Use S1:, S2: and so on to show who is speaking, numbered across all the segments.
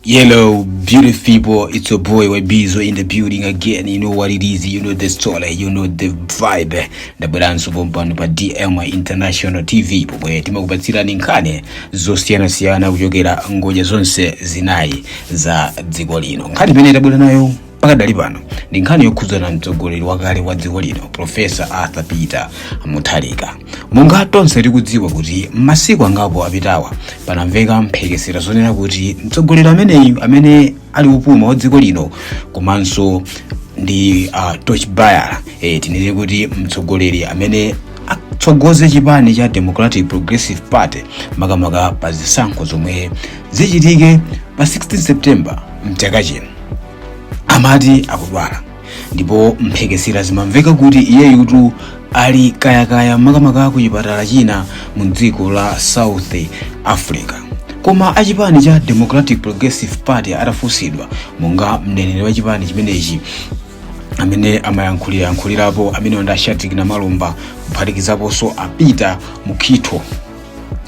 S1: Yellow, beautiful people, it's your boy Wabizo in the building again. You know what it is, you know the story, you know the vibe. Ndabweranso pompano pa DM International TV pomwe timakupatsirani nkhani zosiyanasiyana kuchokera ngodya zonse zinayi za dziko lino. Nkhani imene tabwera nayo pakadali pano ndi nkhani yokhudzana mtsogoleri wakale wa dziko lino profesa arthur peter mutharika monga tonse tikudziwa kuti masiku angapo apitawa panamveka mphekesera zonena kuti mtsogoleri ameneyu amene ali wopuma wa dziko lino komanso ndi uh, torchbearer e, tinene kuti mtsogoleri amene atsogoze chipani cha democratic progressive party makamaka pa zisankho zomwe zichitike pa 16 september mchaka chino amati akudwala ndipo mphekesera zimamveka kuti iyeyutu ali kayakaya makamaka ku chipatala china mu dziko la south africa koma achipani cha democratic progressive party atafunsidwa monga mneneri wa chipani chimenechi amene amayankhulayankhulirapo amene ndi a Shadric Namalomba kuphatikizaponso a Peter Mukhito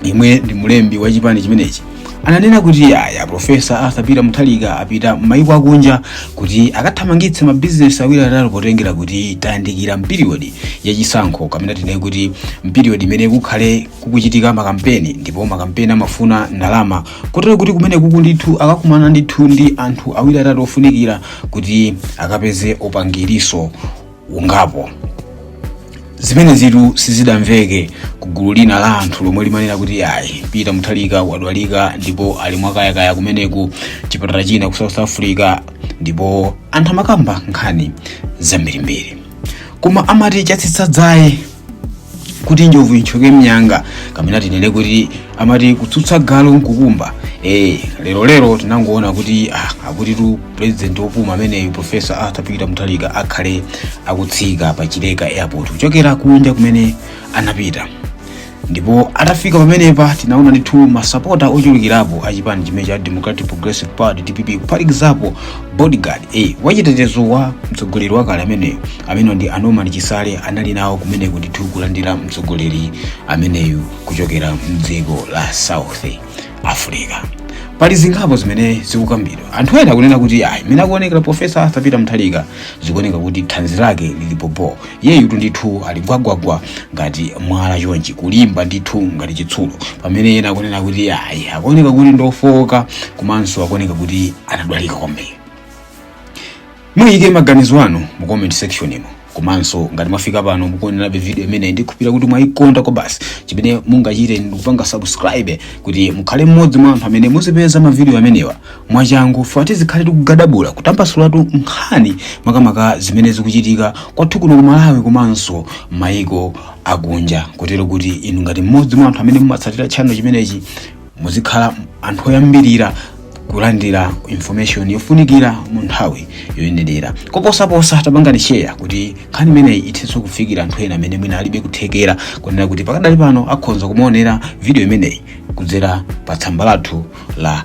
S1: yemwe ndi mlembi wa chipani chimenechi ananena kuti aya profesa arthur peter mutharika apita m'mayiko akunja kuti akathamangitse mabizinesi awiri atatu potengera kuti tayandikira mpiriyodi yachisankho kapena tinene kuti mpiriyodi imene kukhale kukuchitika makampeni ndipo makampeni amafuna ndalama kotero kuti kumeneku ndithu akakumana ndithu ndi anthu awiri atatu ofunikira kuti akapeze upangiriso ungapo zimenezitu sizidamveke ku gulu lina la anthu lomwe limanena kuti ayi peter mutharika wadwalika ndipo ali mwakayakaya kumeneku chipatala china ku south africa ndipo anthu amakamba nkhani zambirimbiri koma amati chatsitsa dzaye kuti njovu ithyoke mnyanga kapena tinene kuti amati kutsutsa galu nkukumba eh lero lero tinangoona kuti ah, akutitu president opuma ameneyu professor arthur peter mutharika akhale akutsika pa chileka airport kuchokera kunja kumene anapita ndipo atafika pamenepa tinaona ndithu masapota ochulukirapo a chipani chimene cha democratic progressive party dpp kuphatikizapo bodyguard e wachitetezo wa mtsogoleri wakale ameneyo amene ndi a Norman Chisale anali nawo kumeneko ndithu kulandira mtsogoleri ameneyu kuchokera mdziko la south africa pali zingapo zimene zikukambidwa anthu ena akunena kuti ayi mmene akuonekera profesa arthur peter mutharika zikuoneka kuti thanzi lake lili bho bho yeyutu ndithu ali gwagwagwa ngati mwala chonchi kulimba ndithu ngati chitsulo pamene ena akunena kuti ayi akuoneka kuti ndofowoka komanso akuoneka kuti anadwalika kwambiri muyike maganizo anu mu comment section imo komanso ngati mwafika pano mukuonerabe video imeneyi ndikhulupirira kuti mwayikonda kwabasi chimene mungachite ndikupanga subscribe kuti mukhale mmodzi mwa anthu amene muzipeza mavidiyo amenewa mwachangu fa tizikhale tikugadabula kutambasulatu nkhani makamaka zimene zikuchitika kwathu kuno ku malawi komanso mayiko akunja kotero kuti inu ngati mmodzi mwa anthu amene mumatsatira channel chimenechi muzikhala anthu oyambirira kulandira information yofunikira mu nthawi yoyenerera koposaposa tapangani share kuti nkhani imeneyi ithenso kufikira anthu ena amene mwina alibe kuthekera kunena kuti pakadali pano akhonza kumaonera video imeneyi kudzera pa tsamba lathu la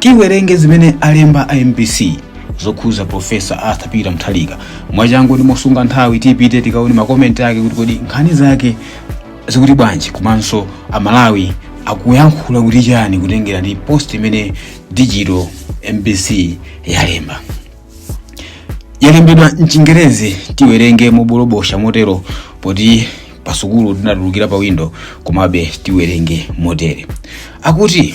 S1: tiwerenge zimene alemba a mbc zokhuza profesa arthur peter mthalika mwachangu ndi mosunga nthawi tipite tikaone makomenti ake kuti kodi nkhani zake zikuti bwanji komanso amalawi akuyankhula kuti chani kutengera ndi post imene digital mbc yalemba yalembedwa mchingerezi tiwerenge mobolobosha motero poti pasukulu tinatulukira pa windo komabe tiwerenge motere akuti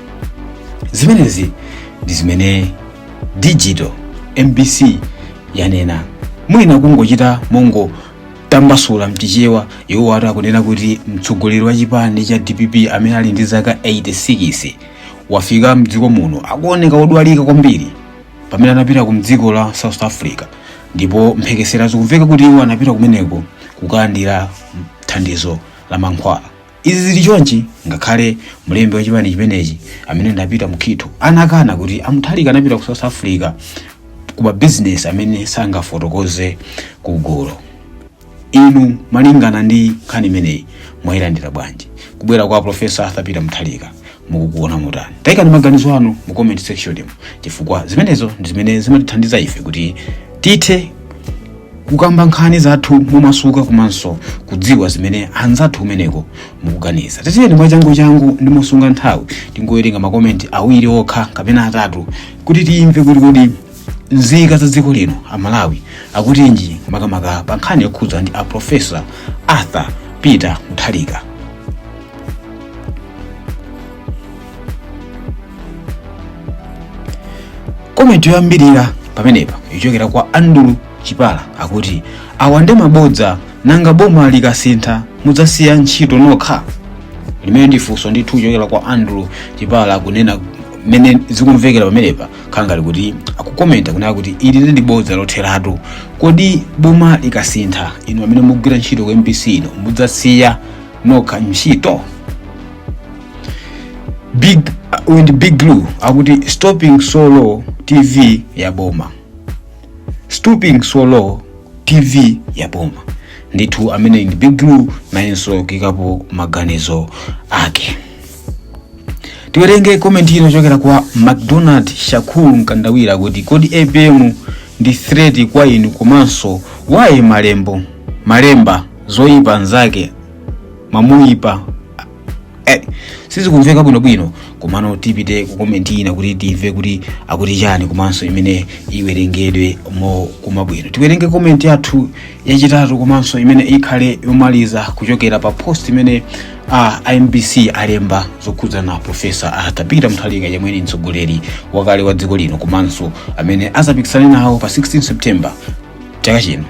S1: zimenezi ndi zimene digital mbc yanena mwina kungochita mongotambasula mchichewa iwowa akunena kuti mtsogoleri wa chipani cha dpp amene ali ndi zaka 86 wafika mdziko muno akuoneka odwalika kwambiri pamene anapita ku mdziko la south africa ndipo mphekesera zikumveka kuti iwo anapita kumeneko kukalandira thandizo la mankhwala Izi zili chonchi ngakhale mlembi wa chipani chimenechi amene ndi a Peter Mukhito anakana kuti amuthalika anapita ku south africa kuma business amene sangafotokoze kugulu inu malingana ndi nkhani imeneyi mwayilandira bwanji kubwera kwa profesa arthur peter muthalika mukukuona motani tayikani maganizo anu mu comment section mu chifukwa zimenezo ndi zimene zimatithandiza ife kuti tithe kukamba nkhani zathu momasuka komanso kudziwa zimene anzathu kumeneko mukuganiza tatiyeni mwachangu changu ndi mosunga nthawi tingowerenga makomenti awiri okha kapena atatu kuti tiyimve kuti kodi nzika za dziko lino amalawi akutinji makamaka pa nkhani yokhudza ndi a profesa arthur peter muthalika komenti yoyambirira pamenepa ichokera kwa andrew chipala akuti awa ndi mabodza nanga boma likasintha mudzasiya ntchito nokha limeneli ndi funso ndithu ichokera kwa andrew chipala akunena mmene zikumvekera pamenepa khanga ali kuti akukomenta kunena kuti ili ndi bodza lotheratu kodi boma likasintha inu amene mukugwira ntchito ku mbc ino mudzasiya nokha ntchito ndi big glue akuti stooping so low tv ya boma stooping so low tv ya boma ndithu amene ndi big glue nayenso kuikapo maganizo ake tiwerenge komenti ina kuchokera kwa macdonald shakur mkandawire akuti kodi apm ndi threat kwa inu komanso why malembo malemba zoyipa zake mamuyipa eh, sizikumveka bwinobwino komano tipite ku komenti ina kuti timve kuti akuti chani komanso imene iwerengedwe mokomveka bwino tiwerenge komenti yathu yachitatu komanso imene ikhale yomaliza kuchokera pa post imene a mbc alemba zokhudzana ndi profesa arthur peter mutharika yemwe ni mtsogoleri wakale wa dziko lino komanso amene azapikisane nawo pa 16 september chaka chino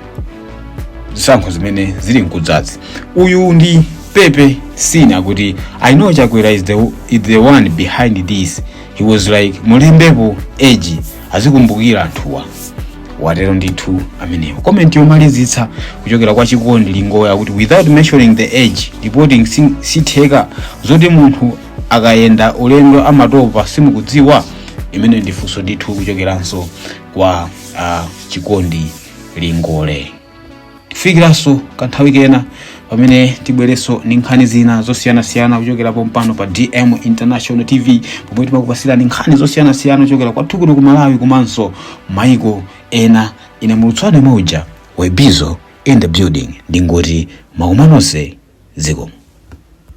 S1: zisankho zimene zili mkudzazi uyu ndi pepe sin akuti i know chakwera is the, is the one behind this he was like mulembepo age azikumbukira anthuwa watero ndithu amenewo komenti yomalizitsa kuchokera kwa chikondi lingole akuti without mentioning the age reporting si- sitheka zoti munthu akayenda ulendo amatopa simukudziwa limene ndi funso ndithu kuchokeranso kwa uh, chikondi lingole tikufikiraninso kanthawi kena pamene tibwerenso ndi nkhani zina zosiyanasiyana kuchokera pompano pa dm international tv pomwe timakupasirani nkhani zosiyanasiyana kuchokera kwathu kuno ku malawi komanso maiko ena ine mulutswane mauja webizo in the building ndingoti makumano onse zikomo